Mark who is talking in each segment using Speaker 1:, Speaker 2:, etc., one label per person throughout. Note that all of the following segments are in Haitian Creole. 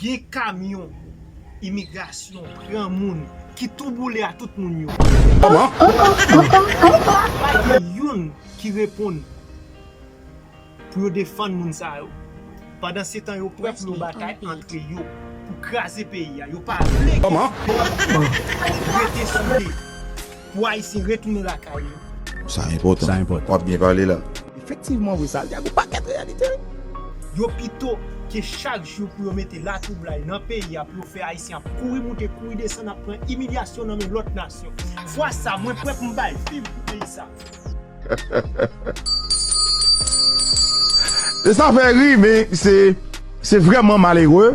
Speaker 1: Gen
Speaker 2: kamyon imigrasyon pran moun ki tou boule a tout moun yo. Pa
Speaker 1: gen
Speaker 2: youn ki reponn pou yo defann moun sa yo. Pandan se tan yo pwòp yo batay antre yo pou kraze peyi a. Yo pa vle ke site yo rete sou pye. Pou ayisyen retounen lakay yo. Sa enpòtan.
Speaker 1: Wap byen pale
Speaker 3: la.
Speaker 1: Efektivman vre sa
Speaker 3: di a gon pakèt reyalite wi. Yo
Speaker 2: pito ke chak jou pou yo mete latwoublay nan peyi a pou yo fè ayisyen ap kouri moute kouri desann ap pran imilyasyon nan men lòt nasyon. Fwa sa mwen prè pou m bay viv pou peyi sa.
Speaker 1: E sa fè ri men se vreman malere.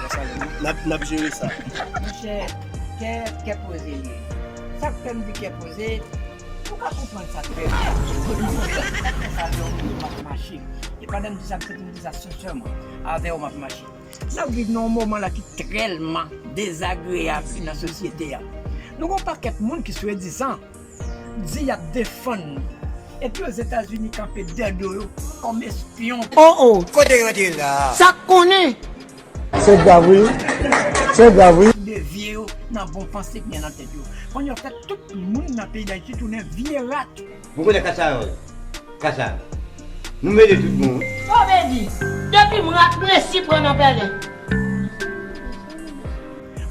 Speaker 4: Nap jere sa. Monchè
Speaker 5: kè kè poze li ye. Sak fèm di kè poze ou ka konprann sak fèm avèw mwen map mache e pandan mdi sa mse poum di sa sensèman avèw map mache nap viv nan yon moman la ki trèlman dezagreyab nan sosyete a nou gon pakèt moun ki swedizan Di yap defann li. Epi ozetazini kanpe dè do yo kom espyon. Oh oh kote yo
Speaker 6: te la.
Speaker 5: Sak konnen.
Speaker 6: Se grav wi se grav wi. De vye yo
Speaker 5: nan bon panse ki gen nan tet yo. Konn yo fe tout moun nan peyi dayiti tounen vye rat. Mwen konnen kasayòl
Speaker 7: kasa nou mele tout bon wi. Komedi
Speaker 8: depim rat m resi pran nan pèlen.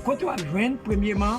Speaker 5: Kote wap jwenn premyeman.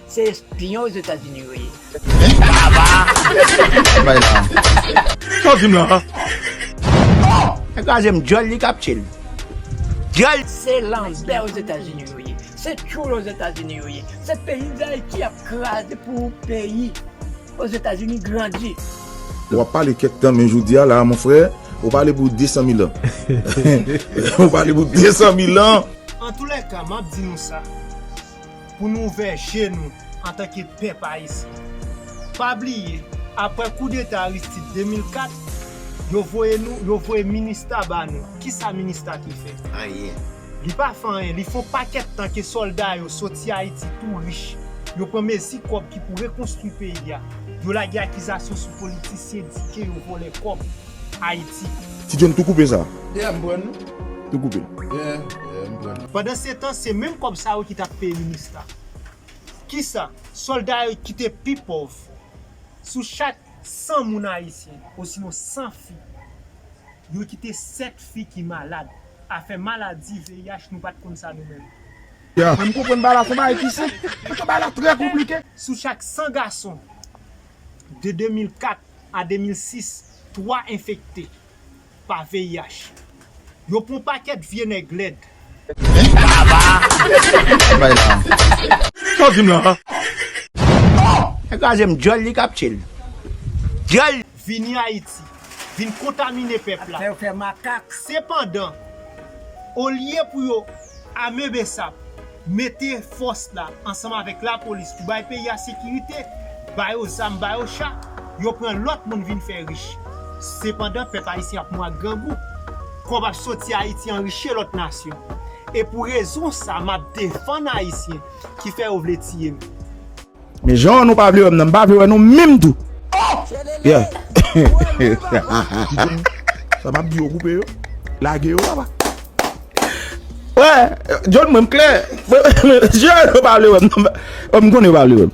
Speaker 5: Se espion ozetazini yo ye.
Speaker 1: Sa w di m la a? Nèg la
Speaker 3: di m dyòl li kap tye l. Dyòl. Se lanbè
Speaker 5: ozetazini yo ye. Se tchoul ozetazini yo ye. Se peyi dayiti y ap kraze pou peyi ozetazini grandi. Ou ap pale
Speaker 1: kèk tan men jodi a la a mon frè, ou pale pou 200 mil an. Ou pale pou 200 mil an. Antoulèka, m
Speaker 2: ap di nou sa. pou nou ouvè je nou antanke pèp ayisyen. Pa bliye, aprè koudeta Aristide 2004, yo voye nou, yo voye minista ba nou. Kisa minista te fè? Anyen. Li
Speaker 7: pa fè
Speaker 2: anyen. Li fè yon pakèt tan ke sòlda yo soti Ayiti tou rich. Yo pran mezi kòb ki pou rekonstwi peyi a. Yo lage akizasyon sou politisyen di ke yo vòlè kòb. Haiti. Ti John tou koupe
Speaker 1: sa. Yeah m pran
Speaker 4: l. Tou koupe l.
Speaker 1: Yeah yeah
Speaker 4: m pran l. Pandansetan se
Speaker 2: menm kòb sa yo ki t ap peye Minista. Kisa? Sòlda yo ki te pi pòv. Sou chak 100 moun ayisyen osinon 100 fi, yo kite 7 fi ki malad. Afè maladi, VIH, nou pa t konn sa nou menm. Yeah, m
Speaker 1: konprann bagay la se yon
Speaker 6: bagay ki senp, paske bagay la trè konplike. Sou chak 100
Speaker 2: gason, de 2004 a 2006 3 enfekte pa VIH yo pou pakèt vye nèg
Speaker 3: lèd. Vini Ayiti
Speaker 2: vin kontamine pèp la.
Speaker 5: Sepandan,
Speaker 2: olye pou yo. Ame bsap mete fòs la ansanm avèk lapolis pou bay peyi a sekirite, ba yo zam, ba yo cha, yo pran lòt moun vin fè rich. Sepandan pèp ayisyen ap mou ak grangou. Kòb ap soti Ayiti anrichie lòt nasyon. E pou rezon sa map defann ayisyen ki fè yo vle tiye m. Men
Speaker 1: jan nou pa vle wèm nan m pa vle wè nou menm tou oh yeah sa map di yo koupe yo lage yo papa wè John mwen m klè jan nou pa vle wèm nan m konnen yo pa vle wèm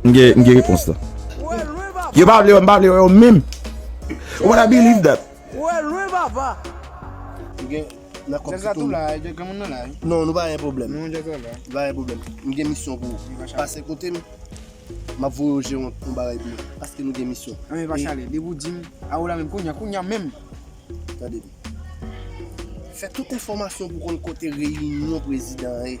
Speaker 1: m gen repons la yo pa vle wèm pa vle wè yo menm wè lwen papa
Speaker 6: Nan kòb Piton. Jazz la tou
Speaker 4: la, jazz granmoun nan la wi. Non, nou pa gen pwoblèm. Nou jazz la la. Nou pa gen pwoblèm. M gen misyon pou ou. Mwen pase kote m. M ap voye ou jere yon bagay pou mwen. Paske nou gen misyon. Nan men Vachale, depi ou
Speaker 6: di m, a ou la menm kounya, kounya menm. Tande m.
Speaker 4: Fè tout enfòmasyon pou konn kote reyinyon prezidan an ye.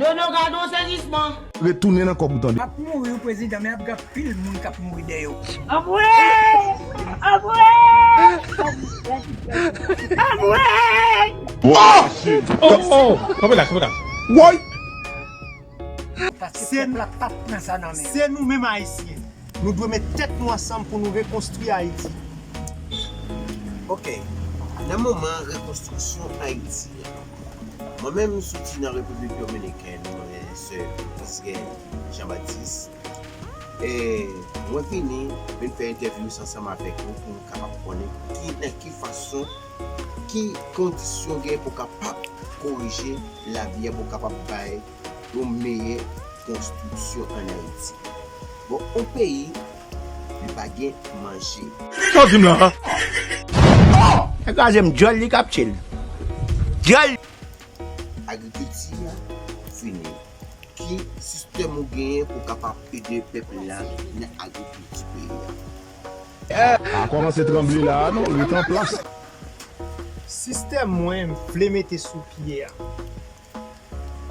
Speaker 8: Nono gad yon sezisman. Retounen nan kòb ou
Speaker 1: tande. Ap mouri wi prezidan men
Speaker 5: ap gen anpil moun kap mouri dèyè w. Anmweyy anmweyy
Speaker 1: anmweyy. Ohh ohh ohh kanpe la kanpe la woyy.
Speaker 5: Paske pèp la pap pran sa nan men. Se nou menm ayisyen.
Speaker 2: Nou dwe met tèt nou ansanm pou nou rekonstwi Ayiti.
Speaker 9: Ok. Nan moman rekonstriksyon Ayiti a. Mwen menm m soti nan Repiblik Dominikèn, mwen se Vizgen Jean Baptiste. E mwen vini, vin fè entèvyous ansanm avèk ou pou m kapab konnen ki nan ki fason. Ki kondisyon gen pou kapab korije labyè pou kapab bay yon meyè konstriksyon an Ayiti? Bon yon peyi li pa gen manje. Sa w di m la a?
Speaker 3: Nèg la di m dyòl li kap tye l. Dyòl.
Speaker 9: Agrikilti a fini. Ki sistèm ou genyen pou kapab ede pèp la nan agrikilti peyi a? Pa kòmanse tranble
Speaker 1: la a non, ret anplas.
Speaker 2: Sistèm mwen m vle mete sou pye a,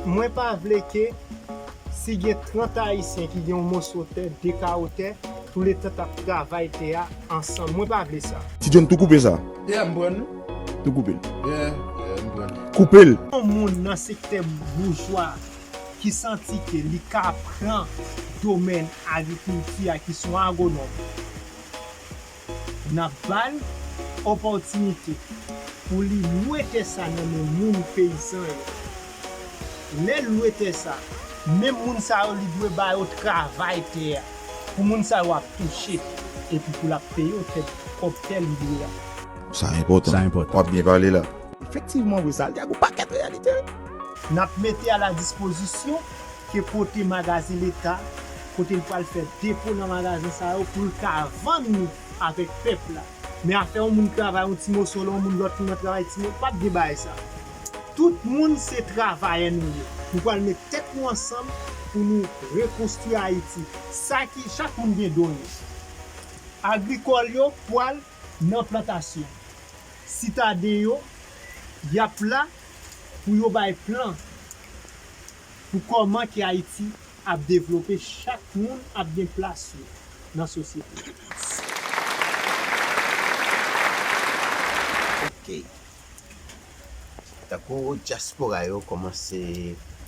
Speaker 2: mwen pa vle ke si gen 30 ayisyen ki gen yon moso tè, 2 kawo tè, tou le tan t ap travay tè a ansanm. Mwen pa vle sa. Ti John tou koupe sa.
Speaker 1: Yeah m pran
Speaker 6: li. Tou koupe l. Yeah,
Speaker 1: yeah
Speaker 6: m pran li. Koupe l. Yon
Speaker 1: moun nan
Speaker 2: sektè boujwa. ki santi ke li ka pran domèn agrikilti a ki son agonòm nap bal opòtinite pou li lwe tè sa nan men moun peyizan yo lèl lwe tè sa menm moun sa yo li dwe ba yo travay tè a pou moun sa yo ap touche epi pou lap peye yo tè kòb tè li lwe a. Sa
Speaker 1: enpòtan. Wap byen pale
Speaker 10: la.
Speaker 1: Efektivman wi Sal te
Speaker 3: ak on pakèt reyalite wi. N ap
Speaker 2: mete a la dispozisyon ke kote magazen leta kote l pral fè depo nan magazen sa yo pou l ka vann li avèk pèp la. Men afè on moun travay on ti moso lè on moun lòt moun nan travay ti mo, pap gen bagay sa. Tout moun se travayè nou ye. Nou pral met tèt nou ansanm pou nou rekonstwi Ayiti. Sa ki chak moun gen don yo. Agrikòl yo pral. nan plantasyon. Sitade yo, y ap la pou yo bay plan pou kòman ke Ayiti ap devlope, chak moun ap gen plas yo nan sosyete a.
Speaker 9: Ok. Tankou dyaspora yo kòmanse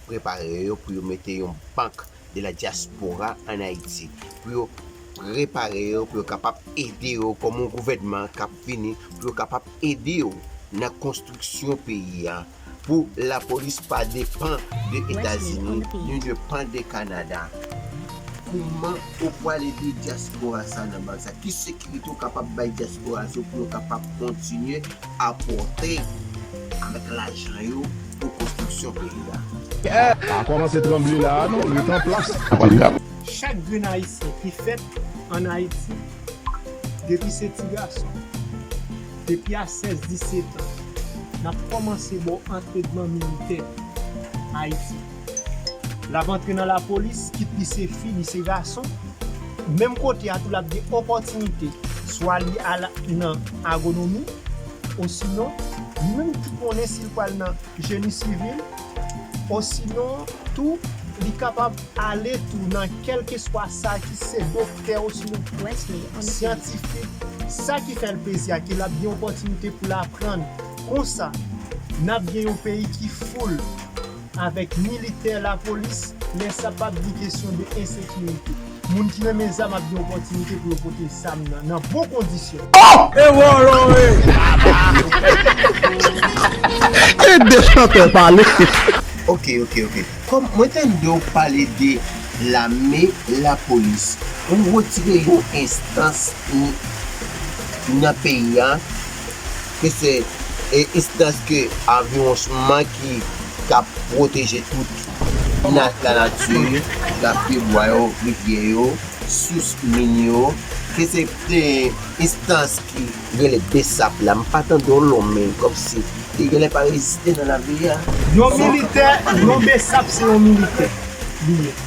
Speaker 9: prepare yo pou yo mete yon bank. de la diaspora an Ayiti pou yo prepare yo pou yo kapab ede yo kòm yon gouvènman k ap vini pou yo kapab ede yo nan konstriksyon peyi a pou lapolis pa depan de Etazini ni depan de Kanada. Kouman ou pral ede diaspora sa nan baz sa? Ki sekirite ou kapab bay diaspora sa pou yo kapab kontinye apòte avèk lajan yo? pou konstriksyon
Speaker 3: peyi a. Pa kòmanse tranble la a non, ret anplas. Chak
Speaker 2: grenn Ayisyen ki fèt ann Ayiti, depi se ti gason, depi a 16, 17 an, n ap kòmanse ba w antrenman militè Ayiti. L ap antre nan lapolis, kit li se fi, li se gason. Menm kote a tou l ap gen opòtinite, swa li al nan agonomi. osinon li menm ki konnen si l pral nan Jeni Sivil, osinon tou li kapab ale tou nan kèlkeswa sa ki se doktè osinon syantifik, sa ki fè l plezi a ke l ap gen opòtinite pou l aprann. Konsa, n ap gen yon peyi ki foul. avèk militè, lapolis, men sa pap di kesyon de ensekirite. Moun
Speaker 1: ki renmen zam ap gen opòtinite pou yo pote zam nan nan bon kondisyon. Ok ok
Speaker 9: ok Kom mwen tande w pale de lame lapolis ou retire yon enstans nan peyi a. ke se enstans ke anviwonsman ki kap pwoteje tout binaj lanati, lap pye bwa yo, rivyè yo, sous, min yo, ke se enstans ki rele bsap la, m pa tande yon non men kòmsi li genlè pa egziste nan lavi a. Yon militè,
Speaker 2: yon bsap se yon militè li ye.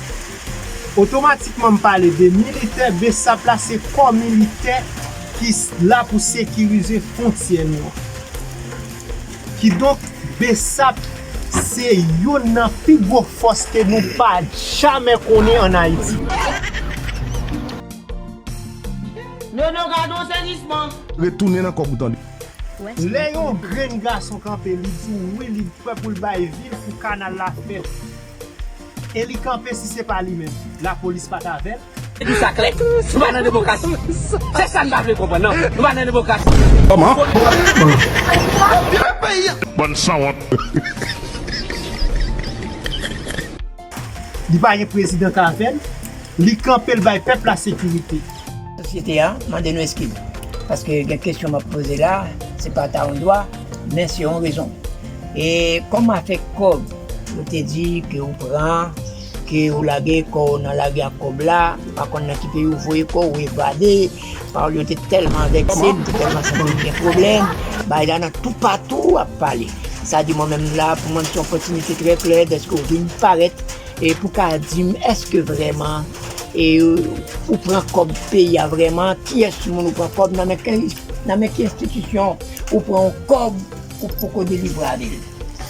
Speaker 2: Otomatikman m pale de militè, bsap la se kò militè ki la pou sekirize fontyè nou an. Kidonk bsap se youn nan pi gwo fòs ke nou pa jamè konnen an Ayiti.
Speaker 8: Nono gad yon sezisman. Retounen nan kòk ou
Speaker 3: tande. Lè
Speaker 2: yon grenn gason kanpe li di w wi li prè pou l bay vi l pou kanal la fèt. E li kanpe si se pa li menm lapolis pa t avè l. Li di sa klè,
Speaker 6: nou pa nan demokrasi. Se sa n pa vle konprann non. Nou pa nan demokrasi. Kòman?
Speaker 1: Antere
Speaker 3: peyi an! Bann sanwont.
Speaker 2: Li pa gen prezidan k avè l. Li kanpe l bay pèp la sekirite. Sosyete a
Speaker 5: mande nou eskiz. Paske gen kesyon m ap poze la. Se pa ta yon dwa, men se yon rezon. E kòm afè kòb. Ou te di ke ou pran, ke ou lage kò ou nan lari ak kòb la, ou pa konn nan ki peyi ou voye kò ou, evade. Pawòl yo te tèlman vekse m, m te tèlman santi m gen pwoblèm. Bagay la nan toupatou ou ap pale. Sa di mwen menm m la pou mwen m se yon opòtinite trè klè dèske ou vin parèt e pou ka di m èske vrèman ou pran kòb peyi a vrèman, kiyès moun ou pran kòb, nan men ki enstitisyon ou pran yon kòb pou poko delivre avè l.